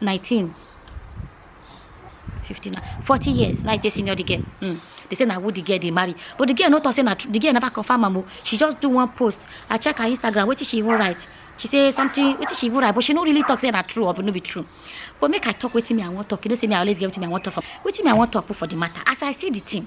19 59 40 years now you take senior the girl mm. they say na who the girl dey marry but the girl no talk say na the girl never confirm am o she just do one post i check her instagram wetin she even write she say something wetin she even write but she no really talk say na true or no be true but make i talk wetin me i wan talk you know say me i always get wetin me i wan talk for wetin me i wan talk put for the matter as i see the thing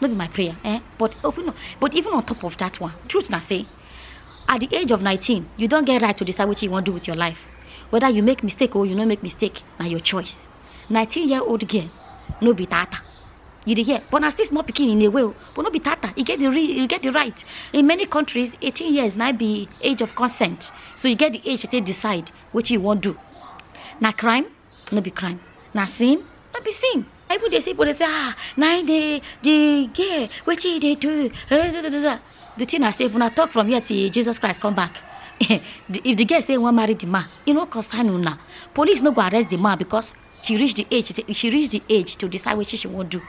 no be my prayer eh but even but even on top of that one truth na say at the age of 19 you don get right to decide wetin you wan do with your life whether you make mistake or you no make mistake na your choice 19 year old girl no be tata you dey hear but na still small pikin in a way o but no be tata you get the re you get the right in many countries 18 years na be age of consent so you get the age to take decide wetin you wan do na crime no be crime na sin no be sin even dey say people dey say ah na him dey the girl wetin he dey do Eh, da, da, da, da. the thing na say if una talk from here till jesus christ come back the- if the girl say he wan marry the man e no concern una police no go arrest the man because she reach the age she reach the age to decide wetin she wan do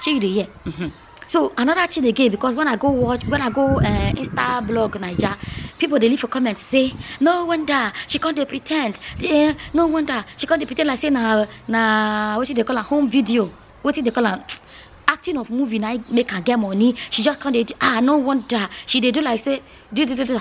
shey you dey hear. Mhm. so another thing again because when i go watch when i go uh, insta blog naija people dey leave for comment say no wonder she come dey pretend eh, no wonder she come dey pretend like say na na wetin dey call am home video wetin dey call am acting of movie na make am get money she just come dey ah no wonder she dey do like say do do do do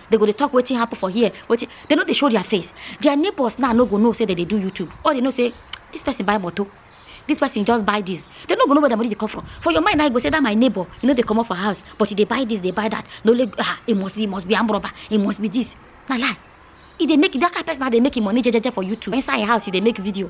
they go dey talk wetin happen for here wetin they no dey show their face their neighbors now no go know say they dey do youtube all they know say this person buy motor this person just buy this they no go know where the money dey come from for your mind now you go say that my neighbor you know they come up for house but he dey buy this dey buy that no like ah he must he must be armed robber he must be this na lie he dey make that kind person now dey make him money jejeje for youtube inside him house he dey make video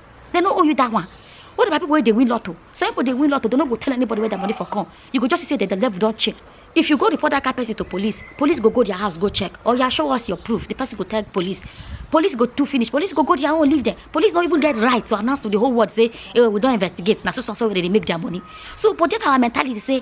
They no owe you that one. What about people where they win lotto? Some people they win lotto, they no go tell anybody where their money for come. You go just say that the level don't check. If you go report that car person to police, police go go their house, go check. Or yeah, show us your proof. The person go tell police. Police go to finish. Police go go their own, leave there. Police don't even get right to announce to the whole world say, hey, eh, we don't investigate. Now so so so they make their money. So but that our mentality say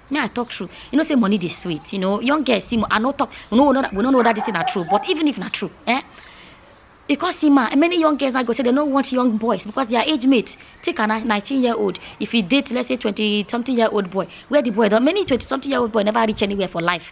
me i talk true you know say money dey sweet you know young girls see mo- i no talk we no know that we no know that this thing na true but even if na true eh you come see ma many young girls now go say they no want young boys because their age mate take a ni- nineteen year old if you date let's say twenty something year old boy where the boy don many twenty something year old boy never reach anywhere for life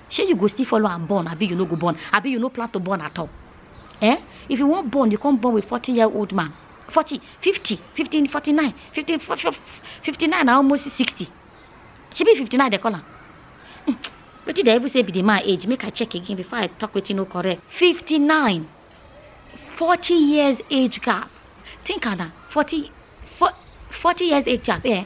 shey you go still follow am born abi you no go born abi you no plan to born at all eh if you wan born you come born with forty year old man forty fifty fifteen forty nine fifteen fifty nine na almost sixty shebi fifty nine dey call am wetin dey even say be the man age make i check again before i talk wetin no correct fifty nine forty years age gap think am na forty for forty years age gap eh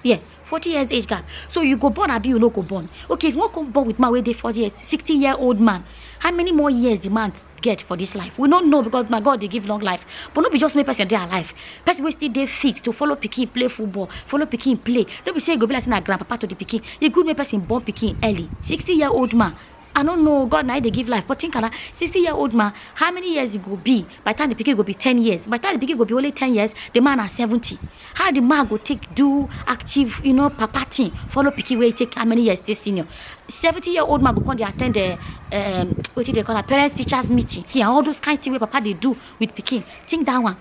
yeah forty years age gap so you go born abi you no go born okay if you wan come born with man wey dey forty years sixty year old man how many more years the man get for this life we no know because na god dey give long life but no be just make person dey alive person wey still dey fit to follow pikin play football follow pikin play no be say e go be like say na grandpapa to the pikin e good make person born pikin early sixty year old man I no know, God na dey give life, but think am na 60 year old man, how many years e go be by the time the pikin go be 10 years? By the time the pikin go be only 10 years, the man na 70. How the man go take do active, you know, papa thing, follow pikin wey take how many years dey senior? 70 year old man go come dey attend the um, wetin dey call am, parents teachers meeting, and all those kind thing wey papa dey do with pikin. Think that one.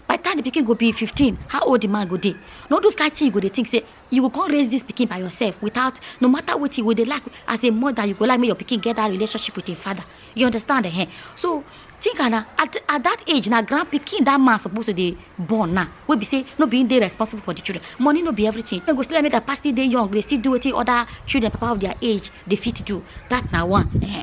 by the time the pikin go be fifteen how old the man go dey na all those kind thing you go dey think say you go come raise this pikin by yourself without no matter wetin you go dey like as a mother you go like make your pikin get that relationship with im father you understand eh so think am na at at that age na grand pikin that man suppose to dey born now wey be say no be him dey responsible for the children money no be everything dem go still like make their papa still dey young dey still do wetin other children papa of their age dey fit do that na one eh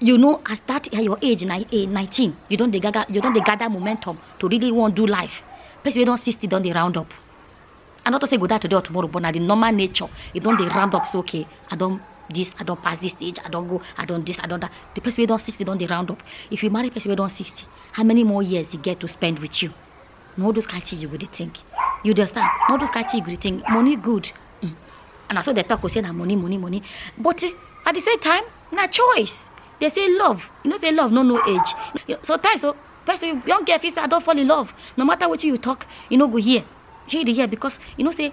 you know at that at your age na eh, 19 you don dey gather you don dey gather momentum to really wan do life person wey don 60 don dey round up i no talk say e go die today or tomorrow but na the normal nature e don dey round up say okay i don this i don pass this stage i don go i don this i don that the person wey don 60 don dey round up if you marry person wey don 60 how many more years e get to spend with you na all those kind thing you go dey think you dey understand na all those kind thing you go dey think money good mm. and na so dey talk o say na money money money but eh, at the same time na choice dey say love you know say love no know age You- sometimes o person young girl fit say i don fall in love no matter wetin you talk you no go hear shey you dey hear because you know say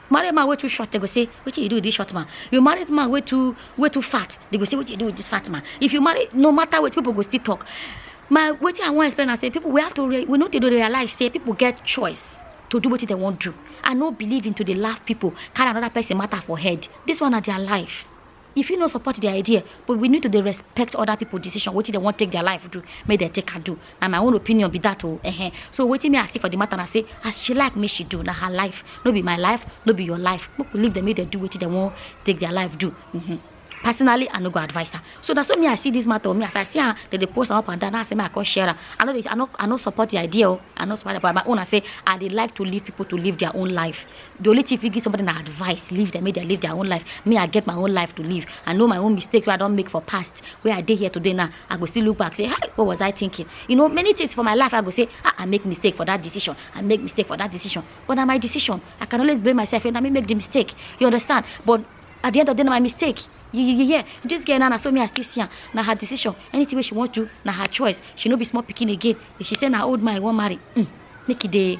marry man wey too short they go say wetin you do with this short man you marry man wey too wey too fat they go say wetin you do with this fat man if you marry no matter wetin people go still talk my wetin i wan explain na say people we have to re we no dey realize say people get choice to do wetin they wan do i no believe in to dey laugh people carry another person matter for head this one na their life e fit no support their idea but we need to dey respect other people decision wetin dem wan take their life do make dem take am do na my own opinion be that o ehen so wetin me i see for the matter na say as she like make she do na her life no be my life no be your life make we leave them make dem do wetin dem wan take their life do mhm personally i no go advise her so na so me i see this matter o me as i see am dem dey post am up and down na i say make i come share am i no dey i no i no support the idea o i no support am but my own na say i dey like to leave people to live their own life the only thing you fit give somebody na advice leave them make dem live their own life me i get my own life to live i know my own mistakes wey i don make for past wey i dey here today now i go still look back say hi what was i thinking you know many things for my life i go say ah i make mistake for that decision i make mistake for that decision but na my decision i can always blame myself and i may make the mistake you understand but at the end of the day na my mistake you you you hear so this girl now na so me i still see am na her decision anything wey she wan do na her choice she no be small pikin again if she say na old man i wan marry mm, make e dey